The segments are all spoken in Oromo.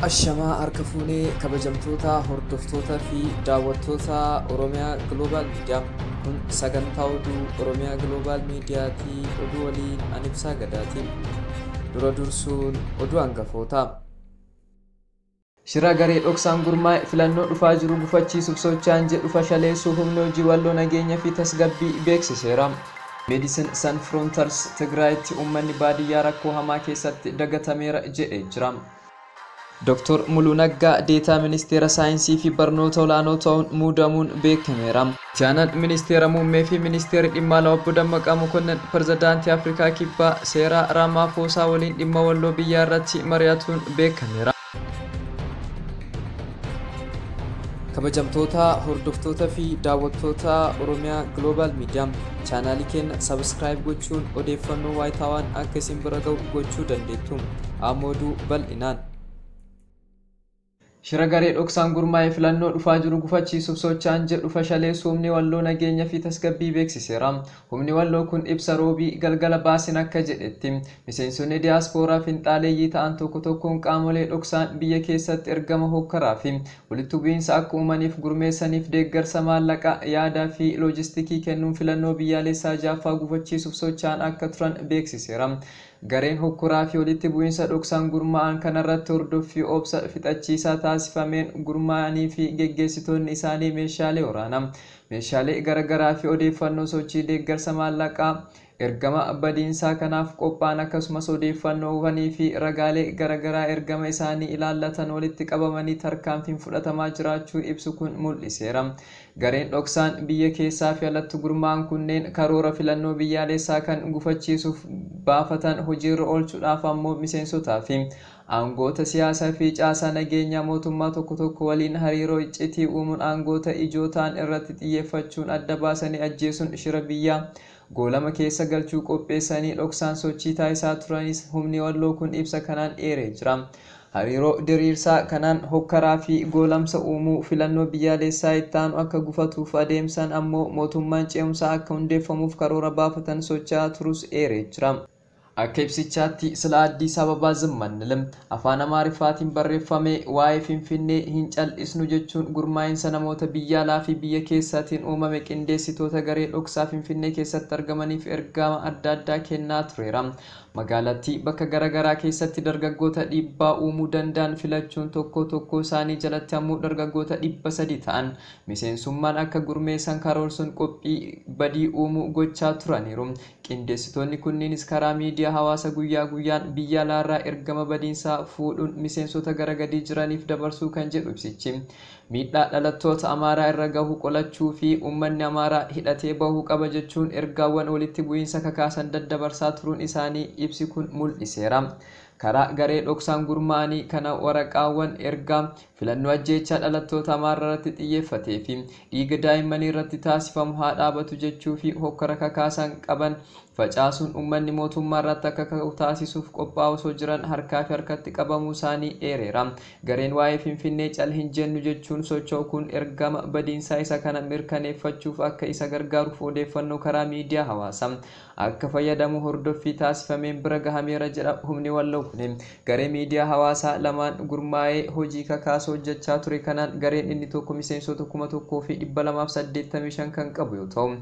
Ashamaa harka fuunee kabajamtoota hordoftoota fi daawwattoota Oromiyaa Global Media. Kun sagantaa oduu Oromiyaa Global Mediatii oduu waliin an ibsaa gadaatiin. Dura dursuun oduu hangafoota. Shira garee dhoksaan gurmaa'e filannoo dhufaa jiru gufachiisuuf socho'an jedhu fashaleessuu Humni Hojii Walloo Nageenya fi Tasgabbii beeksiseera. Medicine San Fronters Tigraayitti uummanni baadiyyaa rakkoo hamaa keessatti dagatameera jedhee jira. Doktor Muluu Naggaa Deetaa Ministeera Saayinsii fi Barnoota Olaanoo ta'uun muudamuun beekameera. Itti aanaan Ministeera Muummee fi Ministeerri Dhimma Alaa Obbo Dammaqaa Mokonnon Pirzedaantii Afrikaa Kibbaa Seeraa Raamaafoosaa waliin dhimma walloo biyyaa irratti mari'atuun beekameera. Kabajamtoota hordoftoota fi daawwattoota Oromiyaa Global Media chaanaalii keenya subscribe gochuun odeeffannoo waayitaawaan akka isin bira ga'u gochuu dandeettu. Amma oduu bal'inaan. Shira garee dhoksaan gurmaa'e filannoo dhufaa jiru gufachiisuuf socha'an jedhu fashaleessu humni walloo nageenya fi tasgabbii beeksiseera. Humni walloo kun ibsa Roobii galgala baasen akka jedhetti, miseensonni diyaaspooraa finxaaleeyyii ta'an tokko tokkoon qaamolee dhoksaan biyya keessatti ergama hookkaraa fi walitti bu'iinsa akka uumaniif gurmeessaniif deeggarsa maallaqaa, yaadaa fi loojistikii kennuun filannoo biyyaaleessaa 6ffaa gufachiisuuf socha'an akka turan beeksiseera. Gareen hokkoraa fi walitti bu'insa dhoksaan gurmaa'an kanarratti hordoffii obsa fixachiisaa taasifameen gurmaa'anii fi geggeessitoonni isaanii meeshaalee waraanaa, meeshaalee gara garaa fi odeeffannoo sochii deeggarsa maallaqaa ergama badiinsaa kanaaf qophaa'an akkasumas odeeffannoowwanii fi ragaalee gara garaa ergama isaanii ilaallatan walitti qabamanii tarkaanfiin fudhatamaa jiraachuu ibsu kun mul'iseera. Gareen dhoksaan biyya keessaafi alatti gurmaa'an kunneen karoora filannoo biyyaaleessaa kan gufachiisuuf baafatan hojiirra oolchuudhaaf ammoo miseensotaafi aangoota siyaasafi caasaa nageenyaa mootummaa tokko tokko waliin hariiroo iccitii uumuun aangoota ijoo ta'an irratti xiyyeeffachuun adda baasanii ajjeesuun shira biyyaa Goolama keessa galchuu qopheessanii dhoksaan sochii taasisaa turanis humni Walloo kun ibsa kanaan eeree jira. Hariiroo diriirsaa kanaan hokkaraa fi goolamsa uumuu, filannoo biyyaaleessaa itti aanu akka gufatuuf adeemsan ammoo mootummaan ce'umsaa akka hundeeffamuuf karoora baafatan socha'aa turus eeree jira. Akka ibsichaatti, sila Addis Ababa Zim Anil, Afaan Amaariffaatiin barreeffamee, waa'ee Finfinnee hin cal'isnu jechuun gurmaa'insa namoota biyya alaa fi biyya keessaatiin uumame qindeessitoota garee dhoksaa Finfinnee keessatti argamaniif ergaama adda addaa kennaa tureera. Magaalattii bakka gara garaa keessatti dargaggoota dhiibbaa uumuu danda'an filachuun tokkoo tokkoo isaanii jalatti ammoo dargaggoota 300 ta'an miseensummaan akka gurmeessan karoorsuun qophii badii uumuu gochaa turaniiru. Qindeessitoonni kunniinis karaa miidiyaa hawaasa guyyaa guyyaan biyya alaarraa ergama badiinsaa fuudhuun miseensota gara gadii jiraniif dabarsuu kan jedhu ibsichi, miidhaa dhalattoota Amaaraa irra gahu qolachuu fi uummanni Amaaraa hidhatee bahuu qaba jechuun ergaawwan walitti bu'iinsa kakaasan daddabarsaa turuun isaanii ibsi kun mul'iseera. Karaa garee dhoksaan gurmaa'anii kana waraqaawwan ergaa. Filannoo ajjeechaa dhalattoota Amaararratti xiyyeeffatee fi dhiiga daa'immaniirratti taasifamu haa dhaabatu jechuu fi hokkara kakaasan qaban facaasuun ummanni mootummaarratti akka ka'u taasisuuf qophaa'aa osoo jiran harkaa fi harkatti qabamuu isaanii eereera. Gareen waa'ee Finfinnee cal hin jennu jechuun socho'u kun ergama badiinsaa isa kana mirkaneeffachuuf akka isa gargaaruuf odeeffannoo karaa miidiyaa hawaasa akka fayyadamu hordoffii taasifameen bira gahameera jedha humni Walloo kuni. Garee miidiyaa hawaasaa lamaan gurmaa'ee hojii kakaasu hojjechaa ture kanaan gareen inni tokko miseensota 1285 kan qabu yoo ta'u,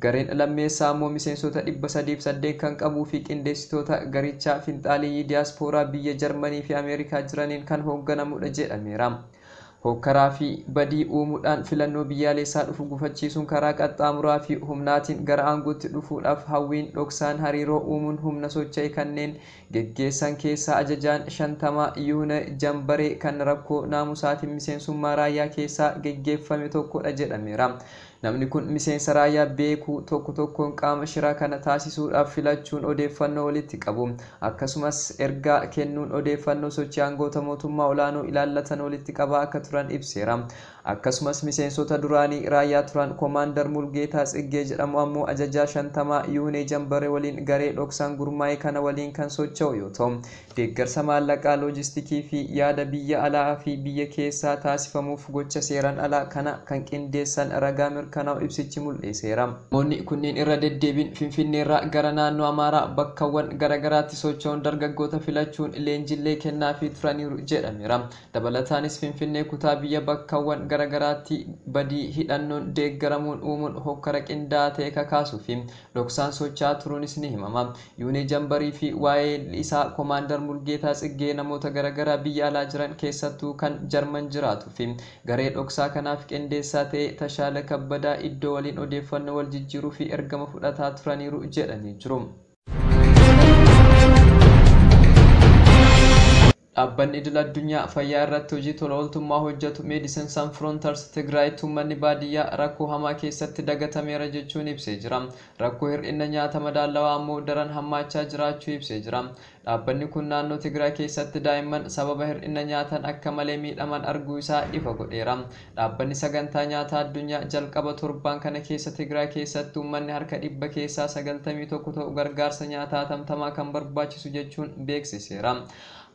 gareen lammeessaa ammoo miseensota 308 kan qabuu fi qindeessitoota garichaa finxaaleyyii diyaaspooraa biyya Jarmanii fi Ameerikaa jiraniin kan hoogganamudha jedhameera. Hookkaraa fi badii uumuudhaan filannoo biyyaaleessaa dhufu gufachiisuun karaa qaxxaamuraa fi humnaatiin gara aangootti dhufuudhaaf hawwiin dhoksaan hariiroo uumuun humna socha'e kanneen geggeessan keessaa ajajaan shantamaa Yihuneh Jambaree kan rakkoo naamusaatiin miseensummaa raayyaa keessaa geggeeffame tokko dha jedhameera. Namni kun miseensa raayyaa beeku tokko tokkoon qaama shira kana taasisuudhaaf filachuun odeeffannoo walitti qabu. Akkasumas, ergaa kennuun odeeffannoo sochii aangoota mootummaa olaanoo ilaallatan walitti qabaa akka turan ibseera. Akkasumas, miseensota duraanii raayyaa turan Komaandar Mulgeetaa Tsiggee jedhamu ammoo Ajajaa Shantamaa Yihunee Jambare waliin garee dhoksaan gurmaa'e kana waliin kan socho'u yoo ta'u, deeggarsa maallaqaa, loojistikii fi yaada biyya alaa fi biyya keessaa taasifamuuf gocha seeraan alaa kana kan qindeessan ragaa mirkanaa'u ibsichi mul'iseera. Namoonni kunneen irra deddeebiin Finfinneerraa gara naannoo Amaaraa bakkawwan garaagaraatti socho'uun dargaggoota filachuun leenjillee kennaafii turaniiru jedhameera. Dabalataanis Finfinnee kutaa biyya bakkawwan garaagaraatti badii hidhannoon deeggaramuun uumuun hokkara qindaa'aa ta'e kakaasuu fi dhoksaan socho'aa turuunis ni himama. Yuunee Jambarii fi waa'ee isaa Komaandar Mulgeetaa Tsiggee namoota gara garaa biyya alaa jiran keessattuu kan Jarman jiraatuu fi garee dhoksaa kanaaf qindeessaa ta'e Tashaala Kabbadaa Iddoo waliin odeeffannoo wal jijjiiruu fi ergama fudhataa turaniiru jedhanii jiru. Dhaabbanni Idil Addunyaa Fayyaa irratti hojii tola ooltummaa hojjatu Medicine San Fronters Tigraayitti uummanni baadiyyaa rakkoo hamaa keessatti dagatameera jechuun ibsee jira. Rakkoo hir'inna nyaata madaallawaa ammoo daran hammaachaa jiraachuu ibsee jira. Dhaabbanni kun naannoo Tigraay keessatti daa'imman sababa hir'inna nyaataan akka malee miidhaman arguu isaa ifa godheera. Dhaabbanni Sagantaa Nyaataa Addunyaa jalqaba torbaan kana keessa Tigraay keessatti uummanni harka dhibba keessaa 91 ta'u gargaarsa nyaataa hatamtamaa kan barbaachisu jechuun beeksiseera.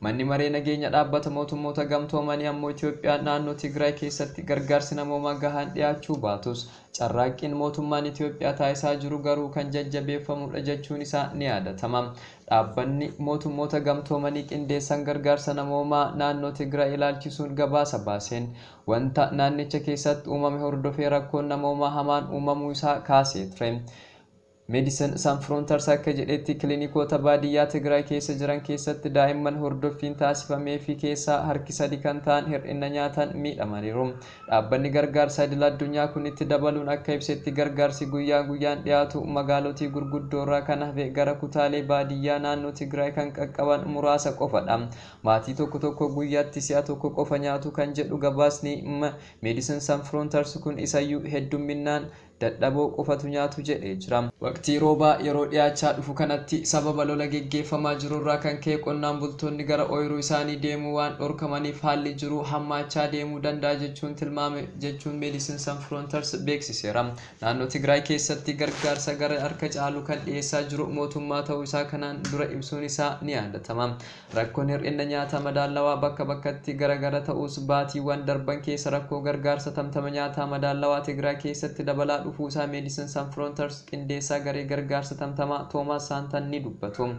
Manni Maree Nageenya Dhaabbata Mootummoota Gamtoomanii ammoo Itoophiyaan naannoo Tigraay keessatti gargaarsi namoomaa gahaan dhiyaachuu baatus carraaqqiin mootummaan Itoophiyaa taasisaa jiru garuu kan jajjabeeffamudha jechuun isaa ni yaadatama. Dhaabbanni Mootummoota Gamtoomanii Qindeessaan Gargaarsa Namoomaa naannoo Tigraay ilaalchisuun gabaasa baaseen, wanta naannicha keessatti uumame hordofee rakkoon namoomaa hamaan uumamuu isaa kaasee ture. Medicine San Fronters akka jedhetti, kilinikoota baadiyyaa Tigraay keessa jiran keessatti daa'imman hordoffiin taasifameefii keessaa harki sadi kan ta'an hir'inna nyaataan miidhamaniiru. Dhaabbanni gargaarsa idil addunyaa kun itti dabaluun akka ibsetti gargaarsi guyyaa guyyaan dhiyaatu magaalotii gurguddoorraa kan hafe gara kutaalee baadiyyaa naannoo Tigraay kan qaqqaban muraasa qofadha. Maatii tokko tokko guyyatti si'a tokko qofa nyaatu kan jedhu gabaasni Medicine San Fronters kun isayyuu heddumminnaan dadhaboo qofatu nyaatu jedhee jira. Waqtii roobaa yeroo dhiyaachaa dhufu kanatti sababa lola geggeeffamaa jirurraa kan ka'e qonnaan bultoonni gara ooyiruu isaanii deemuu waan dhorkamaniif haalli jiruu hammaachaa deemuu danda'a jechuun tilmaame jechuun Medicine San Fronters beeksiseera. Naannoo Tigraay keessatti gargaarsa gara harka caalu kan dhiyeessaa jiru mootummaa ta'uu isaa kanaan dura ibsuun isaa ni yaadatama. Rakkoon hir'inna nyaataa madaallawaa bakka bakkatti gara gara ta'us, baatiiwwan darban keessa rakkoo gargaarsa tamtama nyaataa madaallawaa Tigraay keessatti dabalaa dhufuusaa Medicine San Fronters qindeessaa garee gargaarsa tamtamaa Toomaas Saantan ni dubbatu.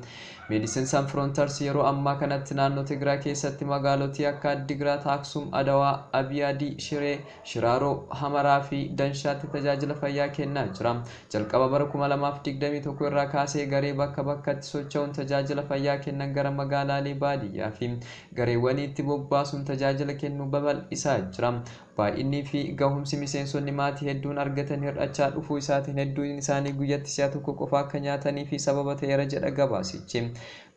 Medicine San Fronters yeroo ammaa kanatti naannoo Tigraay keessatti magaalotii akka Addigraat, Aksum, Adawaa, Abiyaadii, Shiree, Shiraaroo, Hamaraa fi Danshaatti tajaajila fayyaa kennaa jira. Jalqaba bara 2021 irraa kaasee garee bakka bakkatti socha'uun tajaajila fayyaa kennan gara magaalaalee baadiyyaa fi gareewwaniitti bobbaasuun tajaajila kennuu babal'isaa jira. Baay'innii fi gahumsi miseensonni maatii hedduun argatan hir'achaa dhufuu isaatiin hedduun isaanii guyyatti si'a tokko qofa akka nyaataniif sababa ta'eera jedha gabaasichi.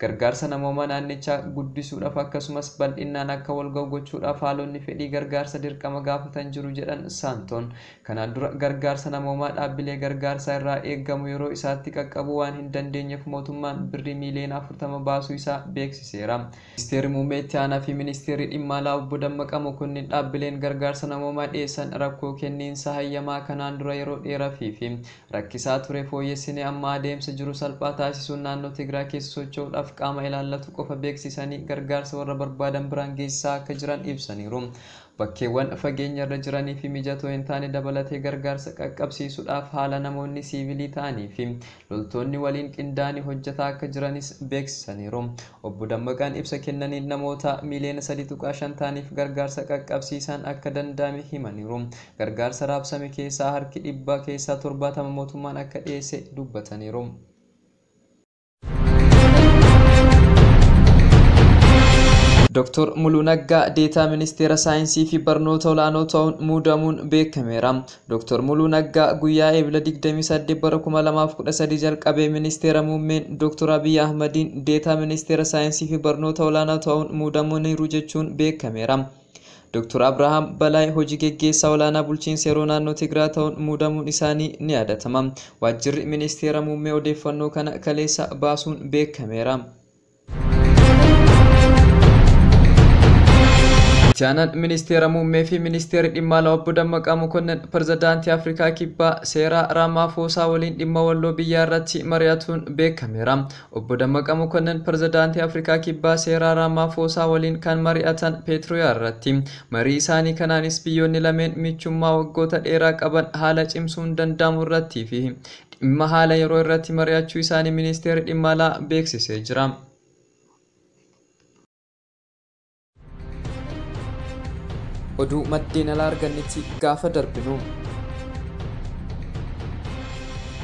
Gargaarsa namoomaa naannichaa guddisuudhaaf akkasumas bal'innaan akka walga'u gochuudhaaf haalonni fedhii gargaarsa dirqama gaafatan jiru jedhan Saantoon. Kanaan dura gargaarsa namoomaa dhaabbilee gargaarsaa irraa eegamu yeroo isaatti qaqqabuu waan hin dandeenyeef mootummaan birrii miiliyoona 40 baasuu isaa beeksiseera. Ministeerri Muummee Itti Aanaa fi Ministeerri Dhimma Alaa Obbo Dammaqaa Mokonnin dhaabbileen gargaarsa namoomaa dhiyeessan rakkoo kenniinsa hayyamaa kanaan dura yeroo dheerafiifi rakkisaa ture fooyyessinee amma adeemsa jiru salphaa taasisuun naannoo Tigraay keessa socho'uudhaaf qaama ilaallatu qofa beeksisanii gargaarsa warra barbaadan biraan geessisaa akka jiran ibsaniiru. Bakkeewwan fageenyarra jiraniifi mijatoo hin taane dabalatee gargaarsa qaqqabsiisuudhaaf haala namoonni siivilii ta'aniifi loltoonni waliin qindaa'anii hojjetaa akka jiranis beeksisaniiru. Obbo Dammaqaan ibsa kennaniin namoota miiliyoona 3.5 ta'aniif gargaarsa qaqqabsiisaan akka danda'ame himaniiru. Gargaarsa raabsame keessaa harki dhibba keessaa 70 mootummaan akka dhiyeesse dubbataniiru. Dr. Muluu Naggaa Deetaa Ministeera Saayinsii fi Barnoota Olaanoo ta'uun muudamuun beekameera. Dr. Muluu Naggaa guyyaa Eebila 28 bara 2013 jalqabee Ministeera Muummeen Dr. Abiy Ahmadiin Deetaa Ministeera Saayinsii fi Barnoota Olaanaa ta'uun muudamaniiru jechuun beekameera. Doktor Abrahaam Balaay hojii geggeessaa olaanaa bulchiinsa yeroo naannoo Tigraa ta'uun muudamuun isaanii ni yaadatama. Waajjirri Ministeera Muummee odeeffannoo kana kaleessa baasuun beekameera. Itti aanaan Ministeera Muummee fi Ministeerri Dhimma Alaa Obbo Dammaqaa Mokonnon Pirezidaantii Afrikaa Kibbaa Seeraa Raamaafoosaa waliin dhimma Walloo biyyaa irratti mari'atuun beekameera. Obbo Dammaqa Mokonnin Pirezidaantii Afrikaa Kibbaa Seeraa Raamaafoosaa waliin kan mari'atan Peetrooyaa irratti. Marii isaanii kanaanis biyyoonni lameen michummaa waggoota dheeraa qaban haala cimsuun danda'amu irrattii fi dhimma haala yeroo irratti mari'achuu isaanii Ministeerri Dhimma Alaa beeksisee jira. Oduu maddeen alaa argannetti gaafa darbinu.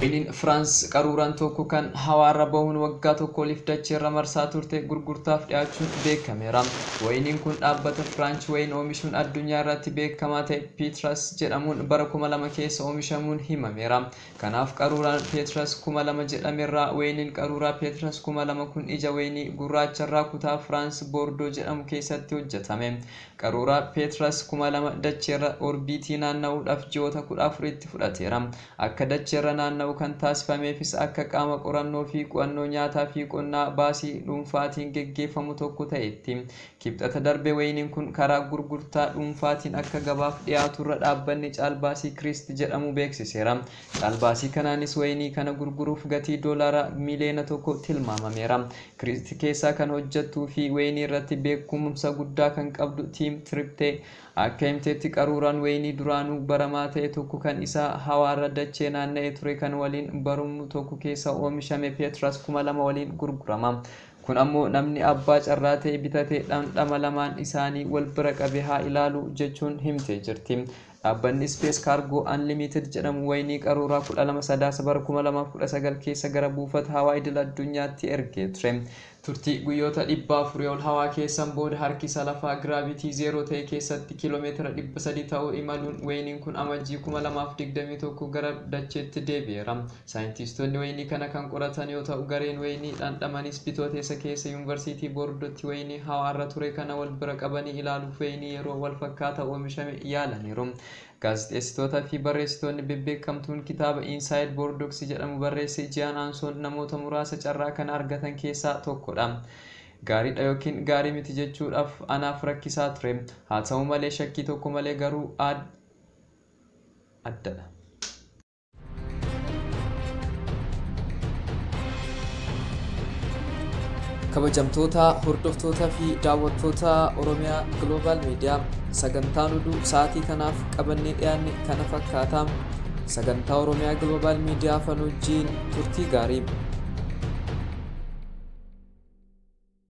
Iliin Firaans qaruuraan tokko kan hawaarra bahuun waggaa tokko oliif dacheerra marsaa turte gurgurtaaf dhiyaachuun beekameera. Wayiniin kun dhaabbata Firaanch wayin oomishuun addunyaa irratti beekamaa ta'e Piitras jedhamuun bara 2000 keessa oomishamuun himameera. Kanaaf qaruuraan Peetras 2000 jedhamerraa wayiniin qaruuraa Peetras 2000 kun ija wayinii gurraacharraa kutaa Firaans Boordoo jedhamu keessatti hojjetame. Qaruuraa Peetras 2000 dacheerra orbiitii naanna'uudhaaf ji'oota 14 itti fudhateera. Akka dacheerra naanna'u kan taasifameefis akka qaama qorannoofi qu'annoo nyaataafi qonnaa baasii dhuunfaatiin geggeeffamu tokko ta'eetti. Kibxata darbe wayiniin kun karaa gurgurtaa dhuunfaatiin akka gabaaf dhiyaatu irra dhaabbanni caalbaasii Kiriist jedhamu beeksiseera. Caalbaasii kanaanis wayinii kana gurguruuf gatii doolaaraa miiliyoona tokko tilmaamameera. Kiriist keessaa kan hojjettuu fi wayinii irratti beekkumumsa guddaa kan qabdu Tiim Tirippee akka himteetti qaruuraan wayinii duraanuu baramaa ta'e tokko kan isaa hawaarra dachee naanna'e ture kan waliin barumnu tokko keessaa oomishame Peetras 2000 waliin gurgurama. Kun ammoo namni abbaa carraa ta'e bitate dhamdhama lamaan isaanii wal bira qabe haa ilaalu, jechuun himtee jirti. Dhaabbanni Space Cargo Unlimited jedhamu wayinii qaruuraa 12 Sadaasa bara 2019 keessa gara buufata hawaa idil addunyaatti ergee ture. Turtii guyyoota 400 ol hawaa keessan booda harkisa lafaa giraavitii zeeroo ta'e keessatti kiilomeetira 300 ta'u imaluun wayiniin kun Amajjii 2021 gara dacheetti deebi'eera. Saayintiistoonni wayinii kana kan qoratan yoo ta'u gareen wayinii dhandhamanis Bitooteessa keessa Yuunvarsiitii Boorddootti wayinii hawaarra ture kana wal bira qabanii ilaaluuf wayinii yeroo wal fakkaata oomishame yaalaniiru. Gaazixeessitoota fi barreessitoonni bebbeekamtuun kitaaba Inside Boorddooksi jedhamu barreesse Jian Anson namoota muraasa carraa kana argatan keessaa tokko dha. Gaarii dha ykn gaarii miti jechuudhaaf anaaf rakkisaa ture. Haa ta'u malee shakkii tokko malee garuu adda dha. kabajamtoota hordoftoota fi daawwattoota oromiyaa global miidiyaa sagantaan oduu sa'aatii kanaaf qabannee dhiyaanne kana fakkaata sagantaa oromiyaa global miidiyaa fanuujiin turtii gaarii